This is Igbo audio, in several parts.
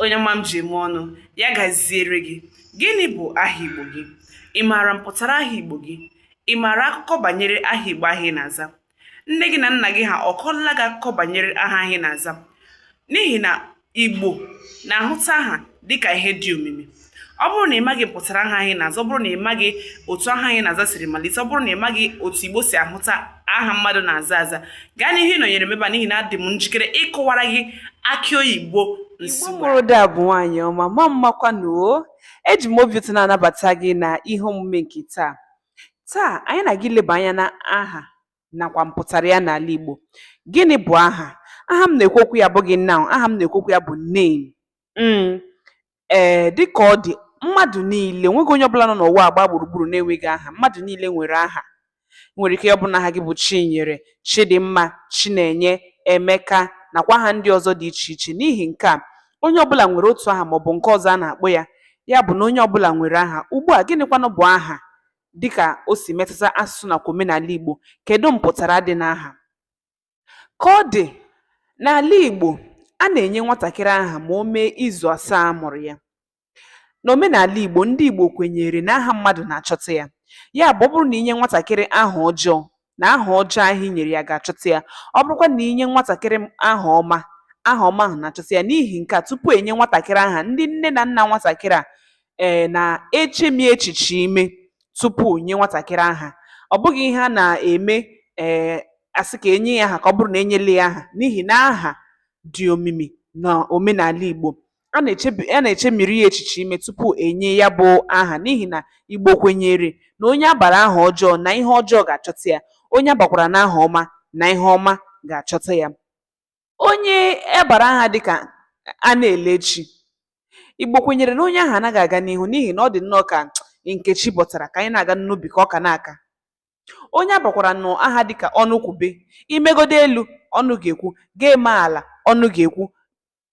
onye ọma m ji eme ọnụ ya gaziere gị gịnị bụ aha igbo gị ị maara mpụtara aha igbo gị ị maara akụkọ banyere aha igbo ahụ ị na-aza nne gị na nna gị ha ọ kọọla gị akụkọ banyere aha ahụ ị na-aza n'ihi na igbo na-ahụta aha dịka ihe dị omimi ọ bụrụ na ị maghị mpụtara aha ahụ ị na-aza ọ bụrụ na ị maghị otu aha ahụ ị na-aza siri malite ọ bụrụ na ị maghị otu igbo si ahụta aha mmadụ na-aza aza gaa n'ihu ịnọnyere m ebe a n'ihi na adị m njikere ịkọwara gị akị oyibo Igbo mụrụ da bụ nwaanyị ọma ma mmakwanụ o eji m obi ụtọ na-anabata gị na ihe omume nke taa taa anyị na gị leba anya na aha nakwa mpụtara ya n'ala Igbo gịnị bụ aha aha m na-ekwu okwu ya abụghị noun aha m na-ekwu okwu ya bụ name mm. Ee, dị ka ọ dị, mmadụ niile, nweghị onye ọbụla nọ n'ụwa a gbaa gburugburu na-enweghị aha. Mmadụ niile nwere aha. Nwere ike ya ọ bụrụ na aha gị bụ Chinyere, Chidimma, Chinenye, Emeka, nakwa aha ndị ọzọ dị iche iche. N'ihi nke a, onye ọbụla nwere otu aha ma ọ bụ nke ọzọ a na-akpọ ya. Ya bụ na onye ọbụla nwere aha. Ugbu a, gịnịkwanụ bụ aha? Dị ka o si metụta asụsụ nakwa omenala Igbo, kedụ mpụtara dị n'aha? Ka ọ dị, n'ala Igbo, a na-enye nwatakịrị aha ma o mee izu asaa a mụrụ ya. N'omenala Igbo, ndị Igbo kwenyere na aha mmadụ na-achọta ya. Ya bụ, ọ bụrụ na i nye nwatakịrị aha ọjọọ, na aha ọjọọ ahụ i nyere ya ga-achọta ya. Ọ bụrụkwa na i nye nwatakịrị aha ọma, aha ọma ahụ na-achọta ya. N'ihi nke a, tupu e nye nwatakịrị aha, ndị nne na nna nwatakịrị a Ee, na-echemi echiche ime tupu nye nwatakịrị aha. Ọ bụghị ihe a na-eme ee a sị ka e nye ya aha ka ọ bụrụ na e nyela ya aha n'ihi na aha dị omimi na omenala Igbo. A na-echebi a na-echemiri ya echiche ime tupu e nye ya bụ aha n'ihi na Igbo kwenyere na onye a bara aha ọjọọ na ihe ọjọọ ga-achọta ya, onye a bakwaranụ aha ọma na ihe ọma ga-achọta ya. Onye a bara aha dị ka a na-ele chi, Igbo kwenyere na onye ahụ anaghị aga n'ihu n'ihi na ọ dị nnọọ ka nke chi bọtara ka anyị na-aga n'ubi ka ọka na-aka. Onye a bakwaranụ aha dị ka Ọnụkwube, i megodo elu, ọnụ ga-ekwu, gị eme ala, ọnụ ga-ekwu.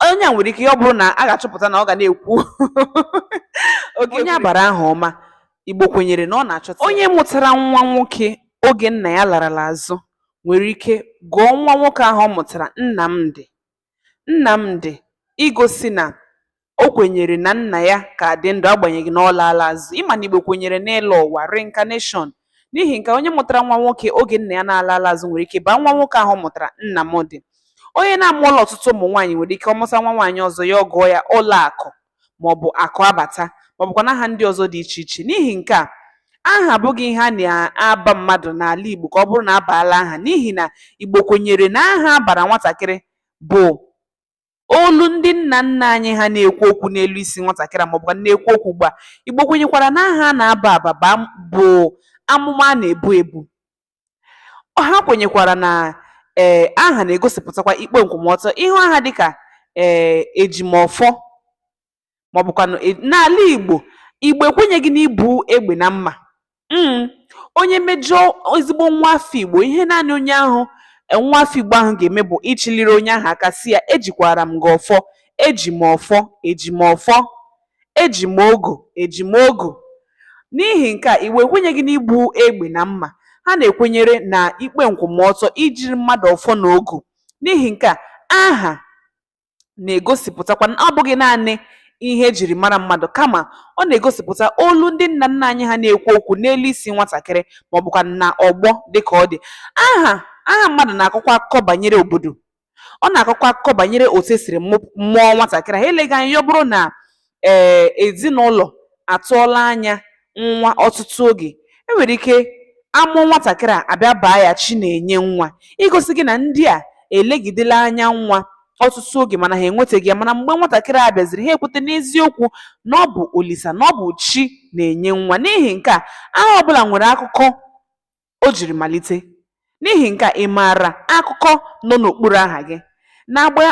Onye a nwere ike ya ọ bụrụ na a ga-achọpụta na ọ ga na-ekwu onye a bara aha ọma, Igbo kwenyere na ọ na-achọta onye mụtara nwa nwoke oge nna ya larala azụ nwere ike gụọ nwa nwoke ahụ ọ mụtara Nnamdị. Nnamdị igosi na o kwenyere na nna ya ka dị ndụ agbanyeghị na ọ laala azụ. Ị ma na Igbo kwenyere n'ịlọ ụwa, reincarnation. N'ihi nke a, onye mụtara nwa nwoke oge nna ya na-alaala azụ nwere ike baa nwa nwoke ahụ ọ mụtara Nnamdị. Onye na-amụọla ọtụtụ ụmụ nwaanyị nwere ike ọ mụta nwa nwaanyị ọzọ ya ọ gụọ ya Ụlọakụ. maọbụ akụ abata maọbụkwanụ aha ndị ọzọ dị iche iche n'ihi nke a aha abụghị ihe a na-aba mmadụ n'ala Igbo ka ọ bụrụ na a baala aha n'ihi na Igbo kwenyere na aha a bara nwatakịrị bụ olu ndị nna nna anyị ha na-ekwu okwu n'elu isi nwatakịrị a maọbụkwa na-ekwu okwu ugbu a Igbo kwenyekwara na aha a na-aba aba bụ amụma a na-ebu ebu Ha kwenyekwara na ee aha na-egosipụtakwa ikpe nkwụmọtọ ị hụ aha dịka ee ejimọfọ maọbụkwanụ e, n'ala Igbo Igbo ekwenyeghị n'ibu egbe na mma mm. onye mejọọ ezigbo nwa afọ Igbo ihe naanị onye ahụ e, nwa afọ Igbo ahụ ga-eme bụ ịchịliri onye ahụ aka sị ya ejikwara m gị ọfọ eji m ọfọ eji m ọfọ Eji m ogu, Eji m ogu. N'ihi nke a, Igbo ekwenyeghị n'ibu egbe na mma. Ha na-ekwenyere na ikpe nkwụmọtọ, ijiri mmadụ ọfọ na ogu. N'ihi nke a, aha na-egosipụtakwa na ọ bụghị naanị ihe e jiri mara mmadụ kama ọ na-egosipụta olu ndị nna nna anyị ha na-ekwu okwu n'elu isi nwatakịrị ma ọ bụkwa na ọgbọ dịka ọ dị. Aha aha mmadụ na-akọkwa akụkọ banyere obodo ọ na-akọkwa akụkọ banyere otu e siri mụ- mụọ nwatakịrị ahụ eleghị anya ya ọ bụrụ na ee ezinụlọ atụọla anya nwa ọtụtụ oge e nwere ike a mụọ nwatakịrị a a bịa baa ya chi na-enye nwa igosi gị na ndị a elegidela anya nwa ọtụtụ oge mana ha enwetaghị ya mana mgbe nwatakịrị a bịaziri ha ekweta n'eziokwu na ọ bụ olisa na ọ bụ chi na-enye nwa n'ihi nke a aha ọbụla nwere akụkọ o jiri malite. N'ihi nke a, ị maara akụkọ nọ n'okpuru aha gị. N'agba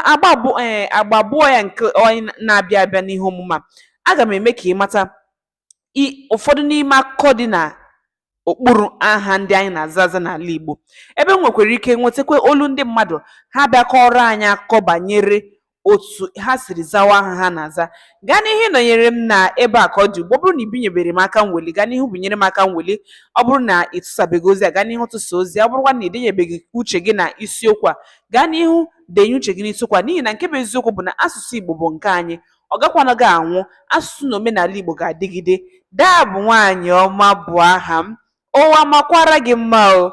abụọ ya nke anyị na-abịa abịa n'ihe omume a, aga m eme ka ị mata i ụfọdụ n'ime akụkọ dị na okpuru aha ndị anyị na-aza aza n'ala Igbo. Ebe m nwekwara ike nwetakwa olu ndị mmadụ, ha bịa kọọrọ anyị akụkọ banyere otu ha siri zawa aha ha na-aza gaa n'ihu nọnyere m na ebe a ka ọ dị ugbu ọ bụrụ na ị binyebere m aka mweli gaa n'ihu binyere m aka mweli ọ bụrụ na ị tụsabeghị ozi a gaa n'ihu tụsa ozi ọ bụrụkwa na ị denyebeghị uche gị na isiokwu a gaa n'ihu denye uche gị n'isiokwu a n'ihi na nke bụ eziokwu bụ na asụsụ Igbo bụ nke anyị ọ gakwanaghị anwụ asụsụ na omenala Igbo ga-adịgide daa bụ nwaanyị ọma bụ aha m ụwa makwara gị mma o